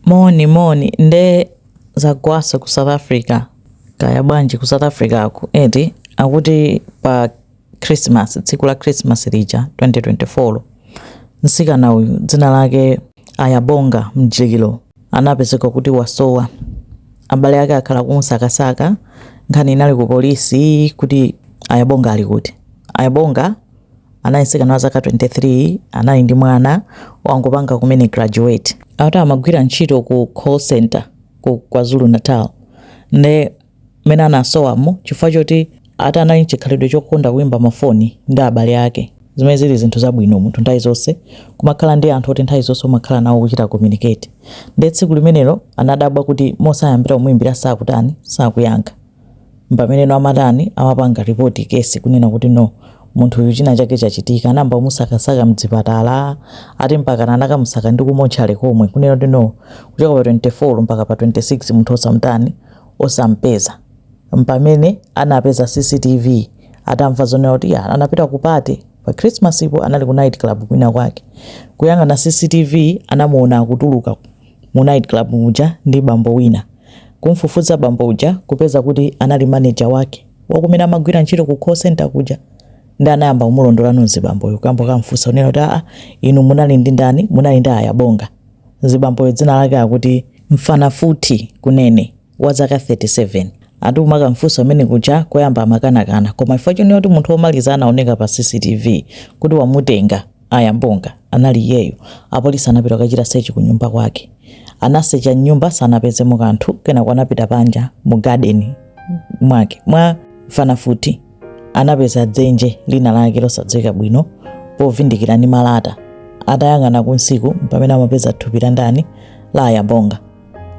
Moni moni nde zagwaso ku south africa kaya bwanji ku south africa ku eti akuti pa christmas tsiku la christmas lija 2024 msikana uyu dzina lake ayabonga mjililo anapezeka kuti wasowa abale ake akhala kumusakasaka nkhani inali ku polisi kuti ayabonga ali kuti ayabonga anali mtsikana wa zaka 23 anali ndi mwana wangopanga kumene graduate ati amagwira ntchito ku call center ku kwazulu natal nde mmene anasowamo chifukwa choti ati anali nchikhalidwe chokonda kuimba mafoni ndi abale ake zimene zili zinthu zabwino munthu nthawi zonse kumakhala ndi anthu oti nthawi zonse umakhala nawo kuchita communicate nde tsiku limenelo anadabwa kuti osayimbira kumuimbira sakutani sakuyankha mpameneno amatani amapanga report case kunena kuti no munthu uyu china chake chachitika anayamba kumusakasaka mdzipatala ati mpakana anakamusaka ndi ku mortuary komwe kunena kuti no kuchoka pa 24 mpaka pa 26 munthu osamtani osampeza mpamene anapeza cctv atamva zonena kuti ya anapita ku party pa christmas ipo anali ku night club kwina kwake kuyang'ana cctv anamuona akutuluka mu night club muja ndi bambo wina. Kumfufuza bambo uja kupeza kuti anali manager wake wakumene amagwira ntchito ku call center kuja nde anayamba kumulondola mzibamboyo kuyamba kumfusa kunena kuti aa inu munali ndi ndani munali ndi ayabonga zibamboyo dzina lake akuti mfanafuthi kunene wa zaka 37 ati amakamfusa kumene kuja koyamba amakanakana koma chifukwa chonena kuti munthu womaliza anaoneka pa cctv kuti wamutenga Ayabonga anali iyeyo. Apolisi anapita kukachita sechi kunyumba kwake. Anasecha m'nyumba sanapezemo kanthu, kenako anapita panja mu garden mwake mwa Mfanafuthi. Anapeza dzenje lina lake losadziwika bwino povindikira ndi malata. Atayang'ana kunsiku mpamene amapeza thupi la ndani? La Ayabonga.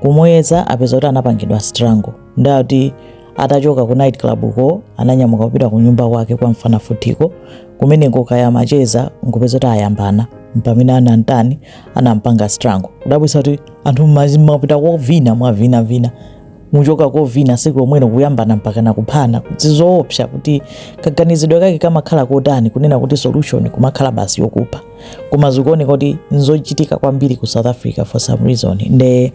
kumuyeza apeza kuti anapangidwa strangle nde ati atachoka ku night club ko ananyamuka kupita ku nyumba kwake kwa mfanafuthiko kumeneko kaya macheza nkupeza kuti ayambana mpamene anantani anampanga strangle kudabwisa kuti anthu mwapita kovina mwavina vina kuchoka kovina tsiku lomwelo kuyambana mpakana kuphana ndi zoopsa kuti kaganizidwe kake kamakhala kotani kunena kuti solution kumakhala basi yokupha koma zikuoneka kuti nzochitika kwambiri ku south africa for some reason nde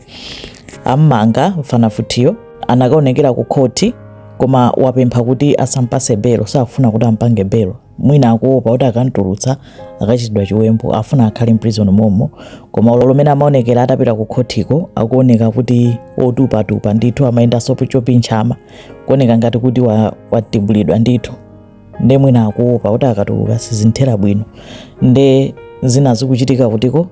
ammanga mfanafuthiyo anakaonekera ku khoti koma wapempha kuti asampase belo sakufuna kuti ampange belo mwina akuopa kuti akantulutsa akachitidwa chiwembu afuna akhale mprison momo koma dzulolo mmene amaonekera atapita ku khotiko akuoneka kuti otupatupa ndithu amayendanso chopinchama kuoneka ngati kuti watibulidwa ndithu nde mwina akuopa kuti akatuluka sizinthera bwino nde zina zikuchitika kutiko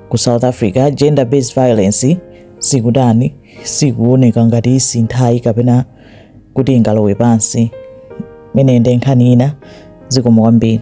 ku south africa gender based violence sikutayi sikuoneka ngati isinthayi kapena kuti ingalowe pansi imene nde nkhani ina zikomo kwambiri